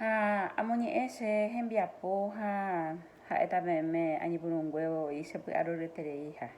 Ha amoñe'ẽ che hembiapo ha ha'éta peẽme añepyrũnguévo voi che py'aroryetereiha.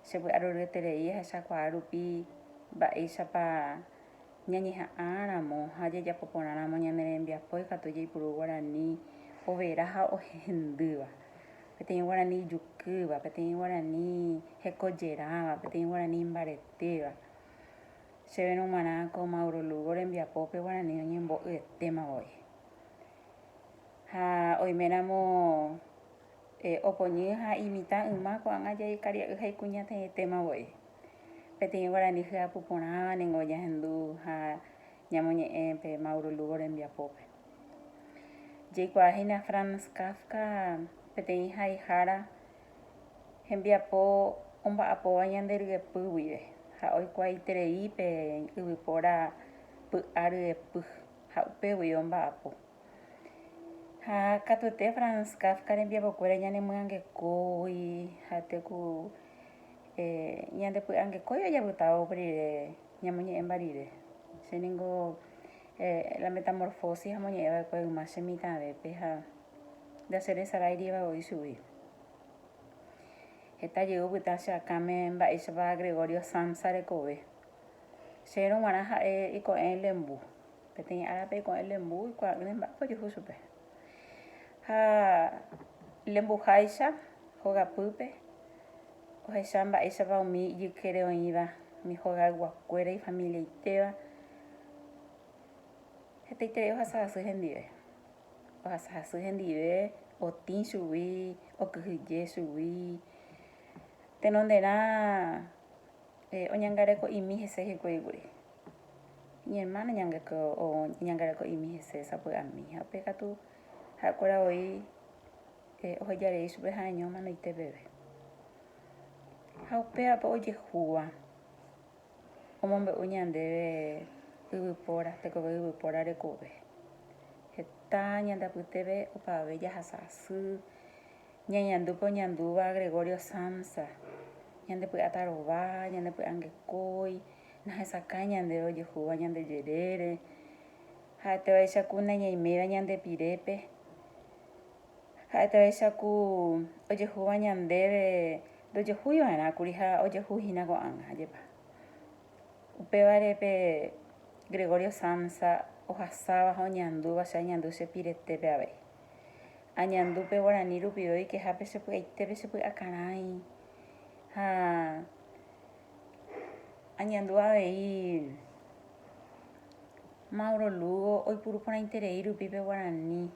Che py'aroryeterei ahechakuaa rupi mba'éichapa ñañeha'ãramo ha jajapo porãramo ñane rembiapo ikatu jaipuru guarani overa ha ohendýva, peteĩ guarani ijukýva, peteĩ guarani hekojerãva, peteĩ guarani imbaretéva. Chéve nomarã ko Mauro Lugo rembiapópe guarani oñembo'yetéma voi. Ha oiméramo opoñy ha imitã yma ko'ág̃a jaikaria'y ha ikuñataĩetéma voi. Peteĩ guarani hyapu porãva ningo ojahendu ha ñamoñe'ẽ pe Mauro Lugo rembiapópe. Jaikuaahína Franz Kafka peteĩ haihára, Hembiapo omba'apóva ñande ryepy guive ha oikuaaiterei pe yvypóra py'a ryepy ha upégui omba'apo. Ha katuete Franz Kafka rembiapokuéra ñanemyangekógui ha teku ñandepy'angekóiva japytávo rire ñamoñe'ẽmba rire. Che ningo La Metamorfosis amoñe'ẽva'ekue yma che mitãvépe ha Jacheresaráiriva voi chugui. Heta jey opyta che akãme mba'éichapa Gregorio Samsa rekove. Cherérõ g̃uarã ha'e iko'ẽ lembu. Peteĩ árape iko'ẽ lembu ikuaa'ỹme mba'épa ojehu chupe. Ha lembuháicha hogapýpe ohecha mba'éichapa umi ijykére oĩva, umi hogayguakuéra ifamiliaitéva. Hetaiterei ohasa asy hendive. Ohasahasy hendive, otĩ chugui, okyhyje chugui. Tenonderã oñangareko'imi hese hikuái kuri. Iñermáno oñangareko'imi hese sapy'ami ha upe katu ha'ekuéra voi oheja rei chupe ha'eño omanoite peve. Ha upévape ojehúva, Omombe'u ñandéve yvypóra, tekove yvypóra rekove. Heta ñande apytépe opavave jahasa asy, ñañandu pe oñandúva Gregorio Samsa, ñandepy'áta rova, ñandepy'angekói, nahesakãi ñandéve ojehúva ñande jerére, ha'etévaicha ku nañaiméiva ñande pirépe, ha'etévaicha ku ojehúva ñandéve Ndojehúi va'erã kuri ha ojehu hína ko'ág̃a. Ajépa. Upévare pe Gregorio Samsa ohasáva ha oñeandúva che añandu che piretépe avei. Añandu pe guarani rupive oikeha pe che py'aitépe che py'akarãi ha añandu avei Mauro Lugo oipuruporãiterei rupi pe guarani.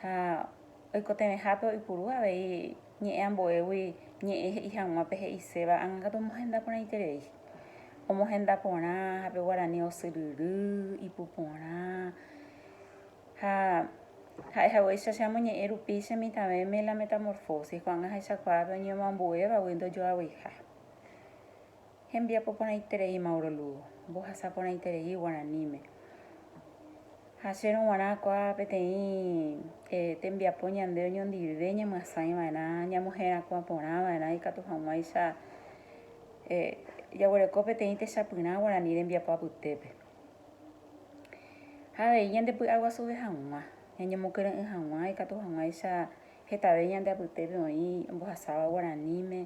ha oikotevẽhápe oipuru avei ñe'ẽ ambuégui ñe'ẽ he'i hag̃ua pe he'iséva ág̃akatu omohenda porãiterei, omohenda porã ha pe guarani osyryry, ipuporã, ha ha'e haguéicha che amoñe'ẽ rupi che mitãvéme la metamorfosis ko'ág̃a ahechakuaápe oñemoambuévagui ndojoavyiha. Hembiapo porãiterei Mauro Lugo, mbohasa porãiterei guaraníme. Hasérõ guarã kuaa peteĩ tembiapo ñande oñondive ñamyasãi vaerã, ñamoherakuã porã vaerã ikatu hag̃uáicha jaguereko peteĩ techapyrã guarani rembiapo apytépe. Ha avei ñande py'aguasuve hag̃ua, ñañemokyre'ỹ hag̃ua ikatu hag̃uáicha hetave ñande apytépe oĩ ombohasáva guaraníme,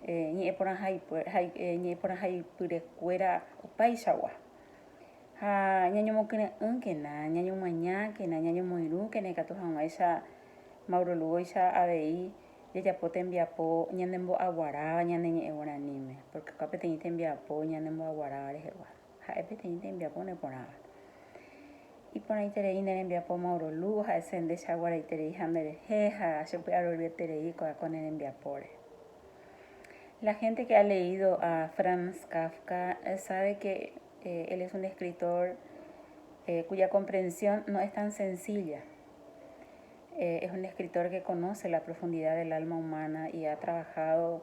ñe'ẽporãhaipyrekuéra opaichagua. Ha ñañomokyre'ỹkena, ñañomañákena, ñañomoirũkena ikatu hag̃uáicha Mauro Lugóicha avei jajapo tembiapo ñanembo'aguaráva ñane ñe'ẽ guaraníme, pórke opa peteĩ tembiapo ñanembo'aguaráva rehegua. Ha'e peteĩ tembiapo neporãva. Iporãiterei ne rembiapo Mauro Lu oha'ese ndecha guaraitereiha nde rehe ha chepy'aroryeterei ko'ã ko ne rembiapóre. La gente que ha leído a Franz Kafka sabe que él es un escritor cuya comprensión no es tan sencilla. Es un escritor que conoce la profundidad del alma humana y ha trabajado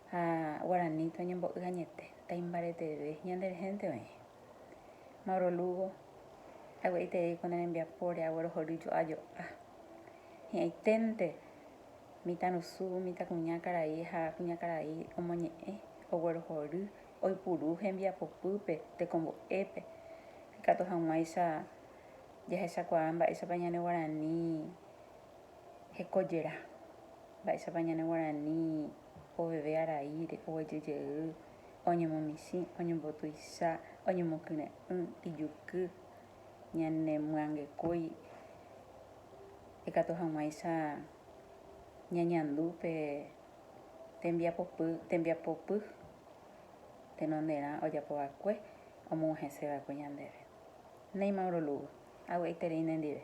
Ha guarani toñembo'y añete, taimbareteve ñande rehénte oĩ. Mauro Lugo, Ague'aiterei ko ne rembiapóre aguerohory jo'a jo'a. Hi'ãiténte mitãrusu, mitãkuña karai ha kuñakarai omoñe'ẽ, oguerohory, oipuru hembiapopýpe, tekombo'épe. Ikatu hag̃uáicha jahechakuaa mba'éichapa ñane guarani hekojera, mba'éichapa ñane guarani. Ohoveve araíre, oguejy jey, oñemomichĩ, oñembotuicha, oñemokyre'ỹ, ijuky, ñanemyangekói ikatu hag̃uáicha ñañandu pe tembiapopy, tembiapopy tenonderã ojapo va'ekue omog̃uahẽse va'ekue ñandéve. Néi Mauro Lugo, avy'aiterei nendive.